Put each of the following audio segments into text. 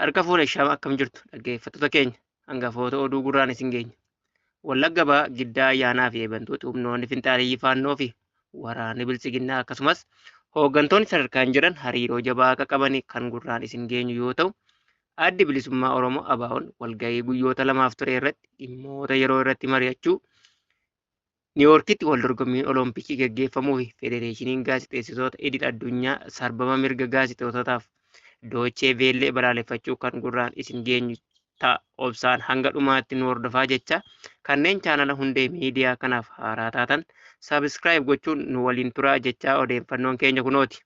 Harka fuune shama akkam jirtu dhaggeeffattoota keenya hangafoota oduu gurraan isin geenya. Wallagga ba'aa giddaa ayyaanaa fi eebantoota humnoonni finxaaleyyii faannoo fi waraanni bilchiginnaa akkasumas hooggantoonni sadarkaan jiran hariiroo jabaa akka qaban kan gurraan isin geenyu yoo ta'u addi bilisummaa Oromoo ABO'n walgahii guyyoota lamaaf ture irratti dhimmoota yeroo irratti mari'achuu Niiwoorkitti wal dorgommiin Oloompikii gaggeeffamuufi Federeeshiniin Gaazexeessitoota Idil Addunyaa sarbama mirga gaazexeessitootaaf Doochee Veellee balaaleffachuu kan gurraan isin geenyu ta'a. Obsaan hanga dhumaatti nu hordofaa jecha kanneen chaanala hundee miidiyaa kanaaf haaraa taatan sabiskiraayib gochuun nu waliin turaa jechaa odeeffannoon keenya kunooti.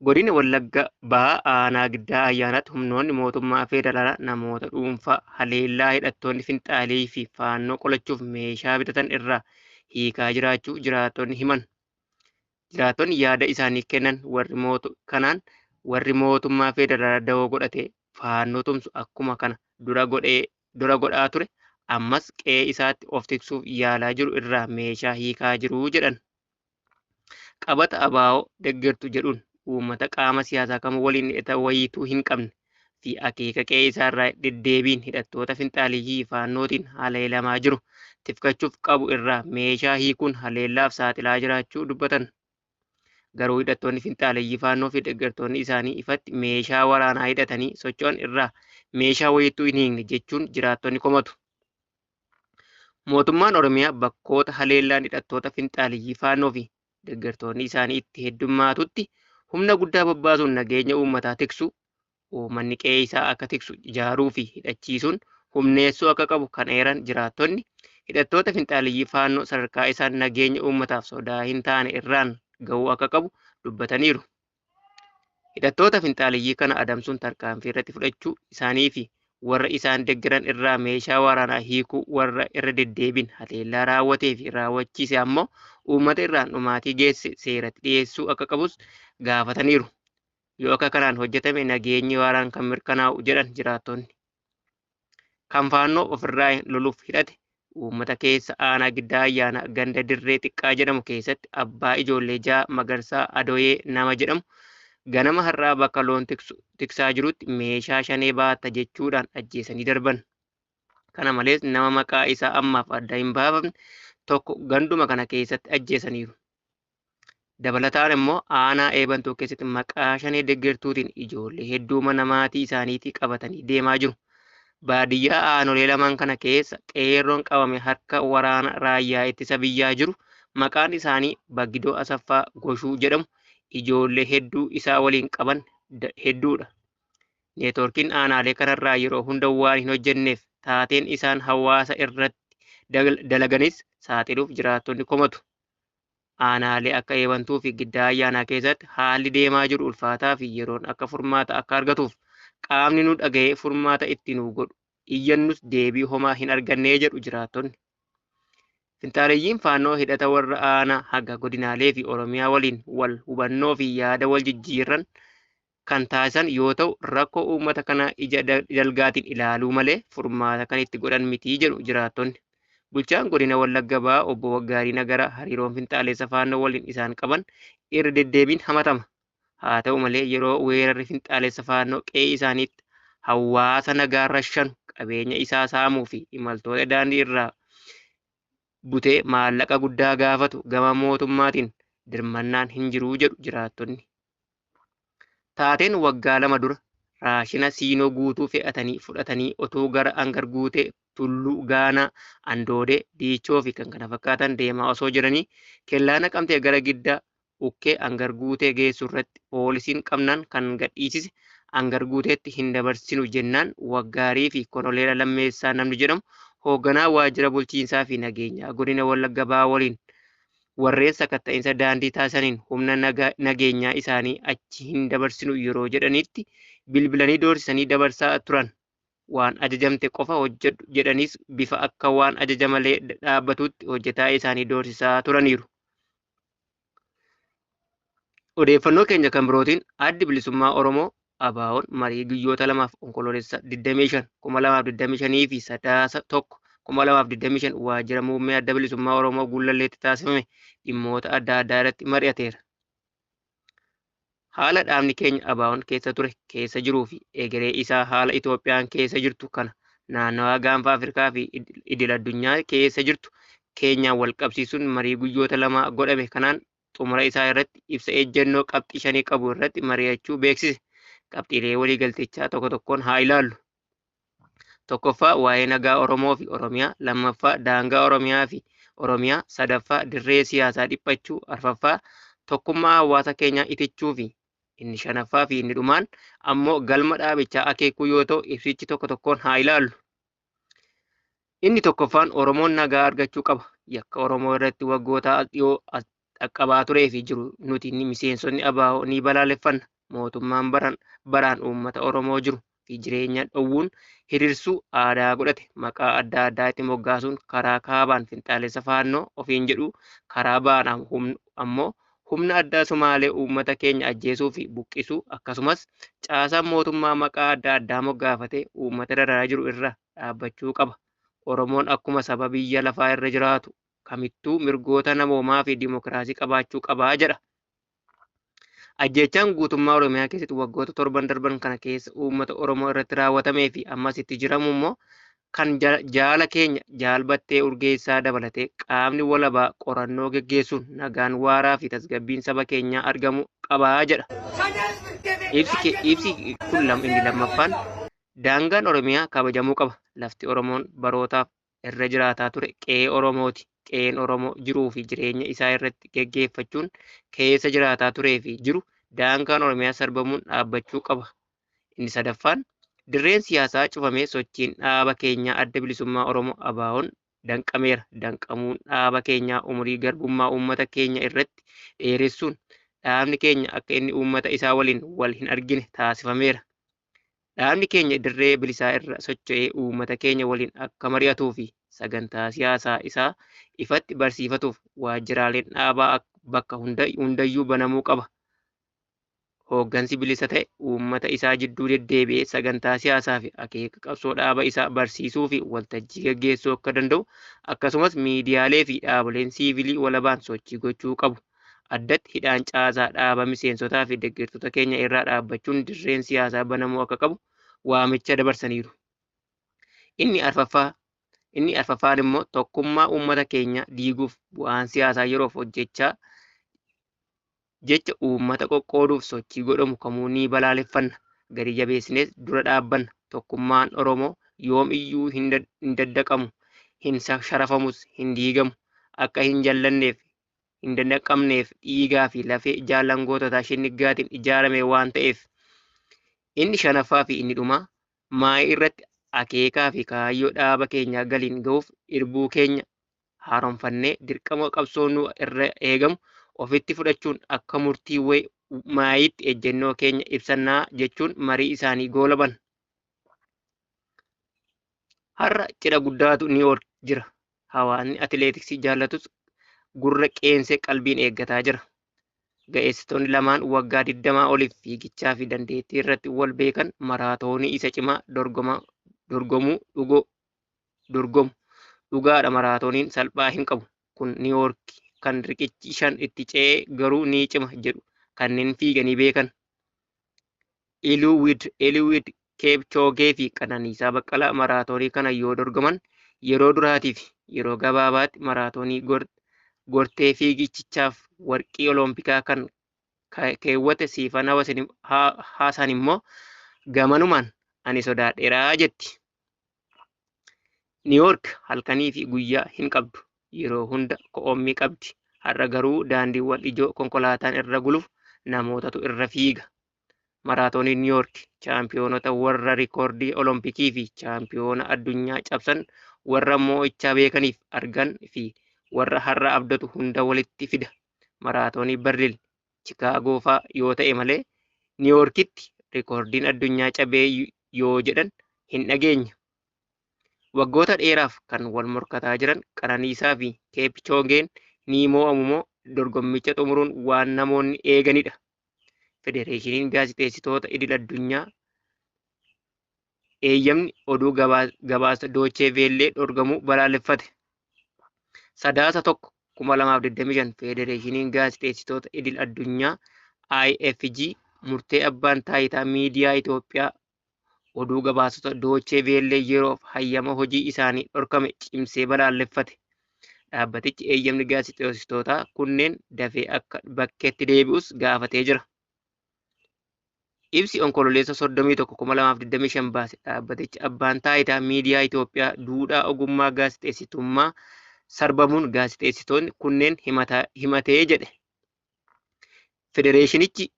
Godina Wallagga Bahaa Aanaa Giddaa Ayyaanaatti humnoonni mootummaa federaalaa namoota dhuunfaa haleellaa hidhattoonni finxaaleeyyii fi faannoo qolachuuf meeshaa bitatan irraa hiikaa jiraachuu jiraattonni himan. Jiraattonni yaada isaanii kennan warri mootu kanaan warri mootummaa federaalaa dawoo godhatee faannoo tumsu akkuma kana dura godhee dura godhaa ture ammas qe'ee isaatti of tiksuuf yaalaa jiru irraa meeshaa hiikaa jiru jedhan. Qabata ABO deggertu jedhuun uummata qaama siyaasaa kamuu waliin hidhata wayiituu hin qabne fi akeeka qe'ee isaa irraa deddeebiin hidhattoota finxaaliyyii Faannootiin haleelamaa jiru tifkachuuf qabu irraa meeshaa hiikuun haleellaaf saaxilaa jiraachuu dubbatan. Garuu hidhattoonni finxaaliyyii Faannoo fi deggertoonni isaanii ifatti meeshaa waraanaa hidhatanii socho'an irraa meeshaa wayiittuu hin hiikne jechuun jiraattonni komatu. Mootummaan Oromiyaa bakkoota haleellaan hidhattoota finxaaliyyii faannoo fi deeggartoonni isaanii itti heddummaatutti humna guddaa bobbaasuun nageenya uummataa tiksu, uummanni qe'ee isaa akka tiksu ijaaruu fi hidhachiisuun humneessuu akka qabu kan eeran jiraattonni, hidhattoota finxaaliyyii faannoo sadarkaa isaan nageenya uummataaf sodaa hin taane irraan ga'uu akka qabu dubbataniiru. Hidhattoota finxaaleyyii kana adamsuun tarkaanfii irratti fudhachuu isaanii fi warra isaan deggeran irraa meeshaa waraanaa hiikuu warra irra deddeebiin haleellaa raawwatee fi raawwachiise ammoo uummata irraan dhumaatii geesse seeratti dhiyeessuu akka qabus gaafataniiru. Yoo akka kanaan hojjetame nageenyi waaraan kan mirkanaa'u jedhan jiraattonni. kan faannoo ofirraa loluuf hidhate uummata keessa aanaa giddaa ayyaanaa ganda dirree xiqqaa jedhamu keessatti abbaa ijoollee ja'a magarsaa adoyee nama jedhamu ganama har'aa bakka loon tiksaa jirutti meeshaa shanee baatta jechuudhaan ajjeesanii darban. Kana malees nama maqaa isaa ammaaf adda hin baafamne tokko ganduma kana keessatti ajjeesaniiru. Dabalataan immoo aanaa Eebantuu keessatti maqaa shanee deggertuutiin ijoollee hedduu mana maatii isaaniitii qabatanii deemaa jiru. Baadiyyaa aanolee lamaan kana keessa qeerroon qabame harka waraana raayyaa ittisa biyyaa jiru maqaan isaanii Baggidoo Asaffaa Goshuu jedhamu ijoollee hedduu isaa waliin qaban hedduudha. Neetwoorkiin aanaalee kanarraa yeroo hunda waan hin hojjenneef taateen isaan hawaasa irratti dalaganis saaxiluuf jiraattonni komatu. aanaalee akka Eebantuu fi Giddaa Ayyaanaa keessatti haalli deemaa jiru ulfaataa fi yeroon akka furmaata akka argatuuf qaamni nu dhaga'ee furmaata itti nuu godhu iyyannus deebii homaa hin argannee jedhu jiraattonni. Finxaaleyyiin faannoo hidhata warra aanaa haga godinaalee fi Oromiyaa waliin wal hubannoo fi yaada wal jijjiirran kan taasisan yoo ta'u rakkoo uummata kanaa ija dalgaatiin ilaaluu malee furmaata kan itti godhan miti jedhu jiraattonni. Bulchaan godina Wallagga Bahaa obbo Waggaarii Nagaraa hariiroon finxaaleessa faannoo waliin isaan qaban irra deddeebiin hamatama. Haa ta'u malee yeroo weerarri finxaaleessa faannoo qe'ee isaaniitti hawaasa nagaa rashanu qabeenya isaa saamuu fi imaltoota daandii irraa butee maallaqa guddaa gaafatu gama mootummaatiin dirmannaan hin jiruu jedhu jiraattonni. Taateen waggaa lama dura raashina siinoo guutuu fe'atanii fudhatanii otoo gara Angar Guutee, Tulluu, Gaanaa, Andoodee, Diichoo fi kan kana fakkaatan deemaa osoo jiranii kellaa Naqamtee gara Giddaa Ukkee Angar Guutee geessu irratti poolisiin qabnaan kan gadhiisise Angar Guuteetti hin dabarsinu jennaan Waggaarii fi Koloneela Lammeessaa namni jedhamu hoogganaa waajjira bulchiinsaa fi nageenyaa godina Wallagga Bahaa waliin warreen sakatta'insa daandii taasisaniin humna nageenyaa isaanii achi hin dabarsinu yeroo jedhanitti bilbilanii doorsisanii dabarsaa turan. Waan ajajamte qofa hojjedhu jedhaniis bifa akka waan ajaja malee dhaabbatuutti hojjetaa isaanii doorsisaa turaniiru. Odeeffannoo keenya kan birootiin Addi Bilisummaa Oromoo ABOn marii guyyoota lamaaf Onkoloolessa 25, 2025 fi Sadaasa 1, 2025 waajjira muummee Adda Bilisummaa Oromoo Gullalleetti taasifame dhimmoota adda addaa irratti mari'ateera. Haala dhaabni keenya ABOn keessa ture, keessa jiruu fi egeree isaa haala Itoophiyaan keessa jirtu kana naannawaa gaanfa Afrikaa fi idil addunyaa keessa jirtu keenyaan wal qabsiisuun marii guyyoota lamaa godhame kanaan xumura isaa irratti ibsa ejjennoo qabxii shanii qabu irratti mari'achuu beeksise. Qabxiilee waliigaltichaa tokko tokkoon haa ilaallu. Tokkoffaa waa'ee nagaa Oromoo fi Oromiyaa, lammaffaa daangaa Oromiyaa fi Oromiyaa, sadaffaa dirree siyaasaa dhiphachuu, arfaffaa tokkummaa hawaasa keenyaa itichuu fi inni shanaffaa fi inni dhumaan ammoo galma dhaabichaa akeekuu yoo ta'u ibsichi tokko tokkoon haa ilaallu. Inni tokkoffaan Oromoon nagaa argachuu qaba. Yakka Oromoo irratti waggoota as dhiyoo as dhaqqabaa turee fi jiru nuti ni miseensonni ABO ni balaaleffanna. Mootummaan baran baraan uummata Oromoo jiru fi jireenya dhowwuun hirirsuu aadaa godhate maqaa adda addaa itti moggaasuun karaa kaabaan finxaalessa faannoo ofiin jedhuu karaa ba'aan am- humn- ammoo Humna addaa Somaalee uummata keenya ajjeesuu fi buqqisuu akkasumas caasaan mootummaa maqaa adda addaa moggaafatee uummata dararaa jiru irraa dhaabbachuu qaba. Oromoon akkuma saba biyya lafaa irra jiraatu kamittuu mirgoota namoomaa fi dimokiraasii qabaachuu qaba jedha. Ajjeechaan guutummaa Oromiyaa keessatti waggoota torban darban kana keessa uummata Oromoo irratti raawwatamee fi ammas itti jiramu immoo kan jaala keenya Jaal Battee Urgeessaa dabalatee qaamni walabaa qorannoo geggeessuun nagaan waaraa fi tasgabbiin saba keenyaa argamu qabaa jedha. Ibsi kun inni lammaffaan daangaan Oromiyaa kabajamuu qaba. Lafti Oromoon barootaaf irra jiraataa ture qe'ee Oromooti. Qe'een Oromoo jiruu fi jireenya isaa irratti geggeeffachuun keessa jiraataa turee fi jiru daangaan Oromiyaa sarbamuun dhaabbachuu qaba Inni sadaffaan dirreen siyaasaa cufamee sochiin dhaaba keenyaa Adda Bilisummaa Oromoo ABOn danqameera. Danqamuun dhaaba keenyaa umurii garbummaa uummata keenya irratti dheeressuun dhaabni keenya akka inni uummata isaa waliin wal hin argine taasifameera. Dhaabni keenya dirree bilisaa irra socho'ee uummata keenya waliin akka mari'atuu fi sagantaa siyaasaa isaa ifatti barsiifatuuf waajjiraaleen dhaabaa bakka hundayyuu banamuu qaba. hooggansi bilisa ta'e uummata isaa jidduu deddeebi'ee sagantaa siyaasaa fi akeeka qabsoo dhaaba isaa barsiisuu fi waltajjii gaggeessuu akka danda'u akkasumas miidiyaalee fi dhaaboleen siivilii walabaan sochii gochuu qabu. Addatti hidhaan caasaa dhaaba miseensotaa fi deeggartoota keenya irraa dhaabbachuun dirreen siyaasaa banamuu akka qabu waamicha dabarsaniiru. Inni arfaffaa inni arfaffaan immoo tokkummaa uummata keenya diiguuf bu'aan siyaasaa yeroof hojjechaa jecha uummata qoqqooduuf sochii godhamu kamuu ni balaaleffanna, gadi jabeessinees dura dhaabbanna. Tokkummaan Oromoo yoom iyyuu hin daddaqamu, hin sharafamus, hin diigamu. Akka hin jallanneef, hin dandaqamneef dhiigaa fi lafee jaallan goototaa shinniggaatiin ijaarame waan ta'eef. Inni shanaffaa fi inni dhumaa maayii irratti akeekaa fi kaayyoo dhaaba keenyaa galiin ga'uuf irbuu keenya haaromfannee dirqama qabsoo nu irra eegamu ofitti fudhachuun akka murtii way maayiitti ejjennoo keenya ibsannaa jechuun marii isaanii goolaban. Har'a cidha guddaatu New York jira. Hawaasni atileetiksii jaallatus gurra qeensee qalbiin eeggataa jira. Ga'eessitoonni lamaan waggaa 20 oliif fiigichaa fi dandeettii irratti wal beekan maraatoonii isa cimaa dorgoma- dorgomuu dhugoo dorgomu. Dhugaadha maraatooniin salphaa hin qabu. Kun Niiwoorki kan riqichi shan itti ce'ee garuu ni cima jedhu kanneen fiiganii beekan. Iliwid Iliwid Keepchoogee fi Qananiisaa Baqqalaa maraatoonii kana yoo dorgoman yeroo duraatii fi yeroo gabaabaatti maraatoonii gortee fiigichichaaf warqii oloompikaa kan keewwate siifan haasaan immoo gamanumaan ani sodaadheeraa jetti. Niiwoork halkanii fi guyyaa hin qabdu. Yeroo hunda ko'oommii qabdi. Har'a garuu daandiiwwan ijoo konkolaataan irra guluuf namootatu irra fiiga. Maraatoonii Niiwoork chaampiyoonota warra rikoordii Olompikii fi chaampiyoona addunyaa cabsan warra moo'ichaa beekaniif argan fi warra har'a abdatu hunda walitti fida. Maraatoonii Berliin Chikaagoo faa yoo ta'e malee Niiwoorkitti rikoordiin addunyaa cabee yoo jedhan hin dhageenye. Waggoota dheeraaf kan wal morkataa jiran Qananiisaa fi Keepchoogeen ni moo'amu moo dorgommicha xumuruun waan namoonni eeganidha. Federeeshiniin gaazexeessitoota idil addunyaa eeyyamni oduu gabaasa Doochee Veellee dhorgamuu balaaleffate. Sadaasa 1 2025 Federeeshiniin Gaazexeessitoota Idil Addunyaa IFG murtee abbaan taayitaa miidiyaa Itoophiyaa oduu gabaasota Doochee Veellee yeroof hayyama hojii isaanii dhorkame cimsee balaaleffate. Dhaabbatichi eeyyamni gaazexeessitootaa kunneen dafee akka bakkeetti deebi'us gaafatee jira. Ibsi Onkololeessa 31,2025 baase dhaabbatichi abbaan taayitaa miidiyaa Itoophiyaa duudhaa ogummaa gaazexeessitummaa sarbamuun gaazexeessitoonni kunneen himatee jedhe. Federeeshinichi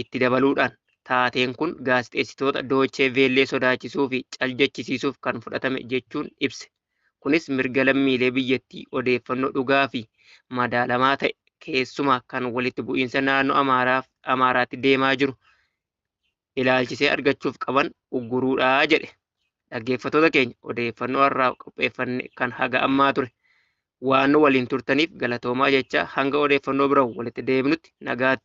itti dabaluudhaan taateen kun gaazexeessitoota Doochee Veellee sodaachisuu fi caljechisiisuuf kan fudhatame jechuun ibse. Kunis mirga lammiilee biyyattii odeeffannoo dhugaa fi madaalamaa ta'e keessumaa kan walitti bu'iinsa naannoo Amaaraaf Amaaraatti deemaa jiru ilaalchisee argachuuf qaban ugguruudha jedhe. Dhaggeeffattoota keenya odeeffannoo har'aaf qopheeffanne kan haga ammaa ture. Waan nu waliin turtaniif galatoomaa jechaa hanga odeeffannoo biraan walitti deebinutti nagaatti.